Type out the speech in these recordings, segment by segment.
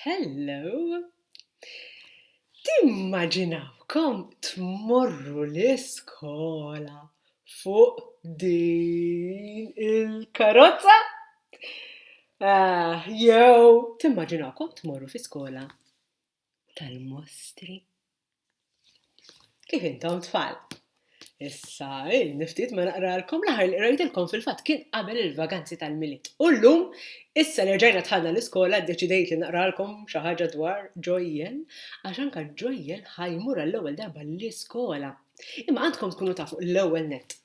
Hello! Timmaġinawkom tmorru l-iskola fuq din il-karozza? Jew timmaġinawkom tmorru fi skola tal-mostri. Kif intom tfal? Issa, niftit ma naqralkom l-aħħar li qrajtilkom fil-fatt kien qabel il-vaganzi tal-milied. U llum, issa li rġajna tħallna l-iskola ddeċidejt li naqralkom xi ħaġa dwar Ġojjel, għax anka Ġojjel ħajmur għall-ewwel darba l-iskola. Imma għandkom tkunu tafu l-ewwel net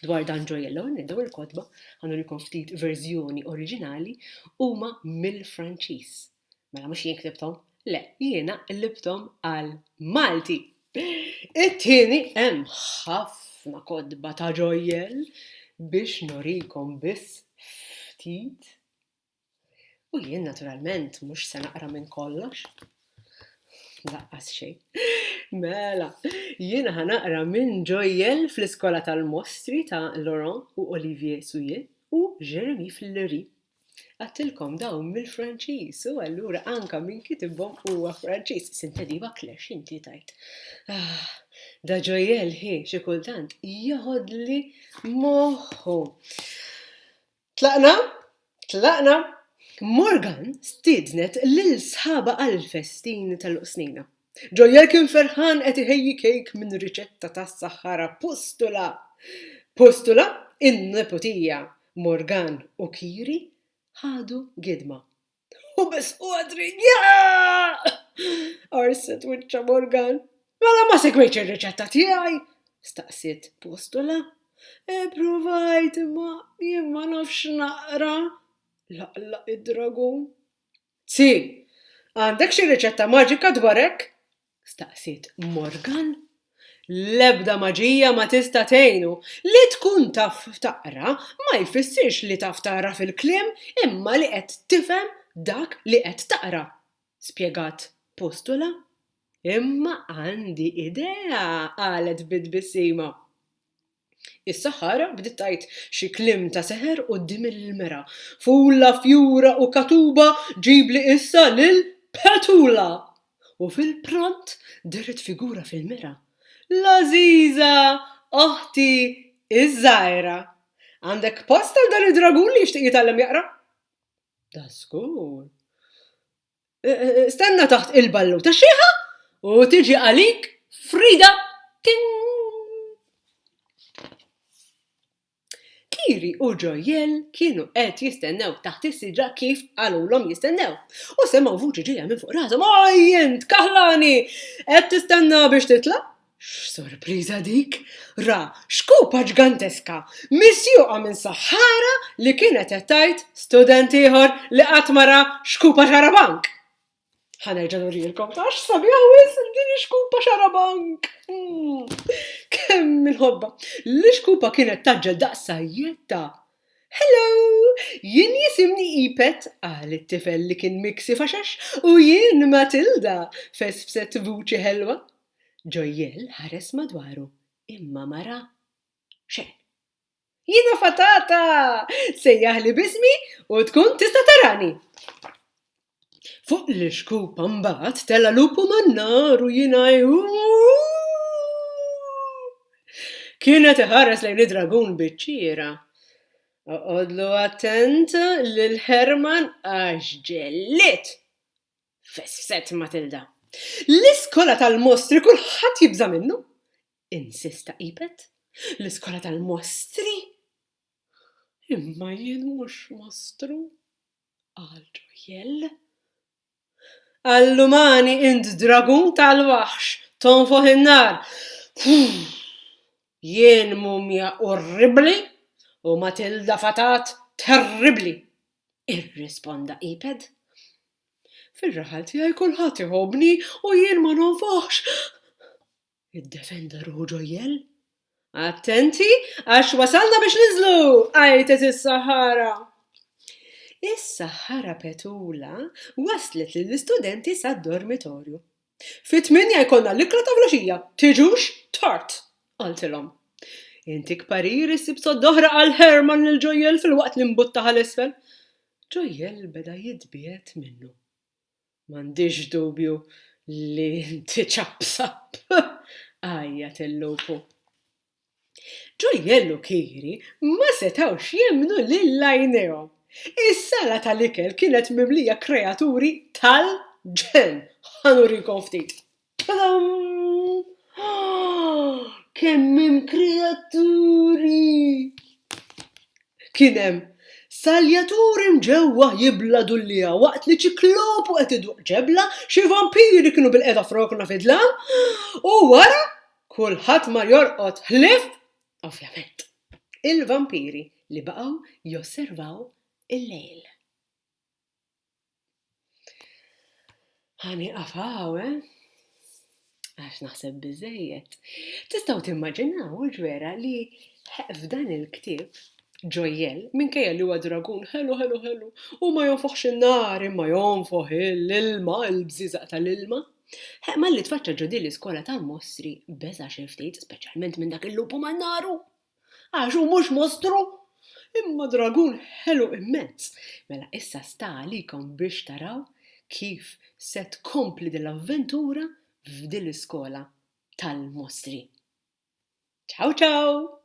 dwar dan Ġojjel, l-ewwel net daw il-kotba ħanurikom ftit verżjoni oriġinali huma mill-Franċiż. Mela mhux jien ktibthom, le, jiena qlibthom għal Malti. It-tieni hemm ħafna kotba ta' ġojjel biex nurikom biss ftit. U jien naturalment mhux se naqra minn kollox. Laqqas xejn. Mela, jien ħanaqra minn ġojjel fl-iskola tal-mostri ta' Laurent u Olivier Souillet u Jeremy Fleury Għadtilkom dawn mill-Franċiż u allura anka min kitibhom huwa Franċiż. Sinte diva klex inti tajt. Ah, da ġojel hi xi kultant joħodli moħħu. Tlaqna, tlaqna, Morgan stidnet lil sħaba għal festin tal-qsnina. Joel kien ferħan qed iħejji kejk minn riċetta tas-saħħara Pustula. Pustula, in-neputija, Morgan u Kiri ħadu gidma. U biss u għadri, Jaaq! qarset wiċċha Morgan. Mela ma segwejtx ir-riċetta tiegħi? staqsiet Pustula. Ippruvajt imma jien ma nafx naqra, laqlaq id-dragun. C. Għandek xi riċetta maġika dwar hekk? staqsiet Morgan. L-ebda maġija ma tista' tgħinu. Li tkun taf taqra ma jfissirx li taf tagħraf il-kliem imma li qed tifhem dak li qed taqra, spjegat Postula. Imma għandi idea, qalet bi tbissima. Is-saħħara bdiet tgħid xi kliem ta' seħer quddiem il-mera, Fulla, fjura u katuba, ġibli issa lil Petula! U fil-pront dehret figura fil-mera, L-għażiża oħti ż-żgħira! Għandek post għal dan id-dragun li jixtieq jitgħallem jaqra? Dażgur! Stenna taħt il-balluta xieħa u tiġi għalik Frida Ting! Kiri u Ġojjel kienu qed jistennew taħt is-siġra kif qalulhom jistennew. U semgħu vuċi ġejja minn fuq rashom, "Oj int, kaħlani! Qed tistenna biex titla'?" X'sorpriża dik! Ra xkupa ġganteska misjuqa minn saħħara li kienet qed tgħid student ieħor li qatt ma ra xkupa xarabank! Ħa nerġa' nurilkom għax sabiħa wisq din ix-xkupa xarabank! Kemm inħobbha! L-ixkupa kienet tgħaġġel daqs sajjetta. Hello! Jien jisimni Ipet, qal it-tifel li kien miksif għax għax, u jien Matilda, fesfset vuċi ħelwa. Joel ħares madwaru imma ma ra xejn. Jiena fatata! Sejjaħli b'ismi u tkun tista' tarani! Fuq l-ixkupa mbagħad tela' lupu man-nar u jiena Kien qed iħares lejn id-dragun biċ-ċira. Oqgħodlu attent lil Herman għax ġellied! fessret Matilda. L-iskola tal-mostri kulħadd jibża' minnu! insista Ipet. L-iskola tal-mostri? Imma jien mhux mostru, qal Ġurjell. Allumani int dragun tal-waħx, tonfoħ in-nar. Jien mumja orribbli u Matilda fatat terribbli, irrisponda Iped. Fir-raħal tiegħi kulħadd iħobbni u jien ma nonfoħx! iddefenda ruħu Ġojjell. Attenti għax wasalna biex ninżlu! għajtet is-Saħħara. Is-Saħħara Petula waslet lill-istudenti sad-dormitorju. Fit-tmienja jkollna l-ikla ta' filgħaxija, tiġux tard! qaltilhom. Intik parir issib sodda oħra qal Herman lil Ġojjel filwaqt li mbuttaha 'l isfel. Ġojjel beda jitbiegħed minnu. M'għandix dubju li inti ċappsapp! għajjat il-lupu. Ġojjell u Kiri ma setgħux jemmnu lil għajnejhom. Is-sala tal-ikel kienet mimlija kreaturi tal-ġenn! Ħa nurikom ftit. Tadam! Kemm hemm kreaturi! Kien hemm saljaturi mġewwa jibla dullieha waqt li ċiklopu qed iduqq ġebla, xi vampiri kienu bilqiegħda f'rokna fid-dlam, u wara Kulħadd mar jorqod ħlief, ovvjament, il-vampiri li baqgħu josservaw il-lejl. Ħa nieqaf hawn, eh? Għax naħseb biżejjed. Tistgħu timmaġinaw ġwera li f'dan il-ktieb ġojjel minkejja li huwa dragun ħelu ħelu ħelu u ma jonfoħx in-nar imma jonfoħ l-ilma, il-bżiżaq tal-ilma. Ħe, malli tfaċċa ġo din l-iskola ta' mostri, beża' xi ftit, speċjalment minn dak il-lupu mal-naru! Għax hu mhux mostru, imma dragun ħelu immens! Mela issa sta għalikom biex taraw kif se tkompli din l-avventura f'din l-iskola tal-mostri. Ciao ciao!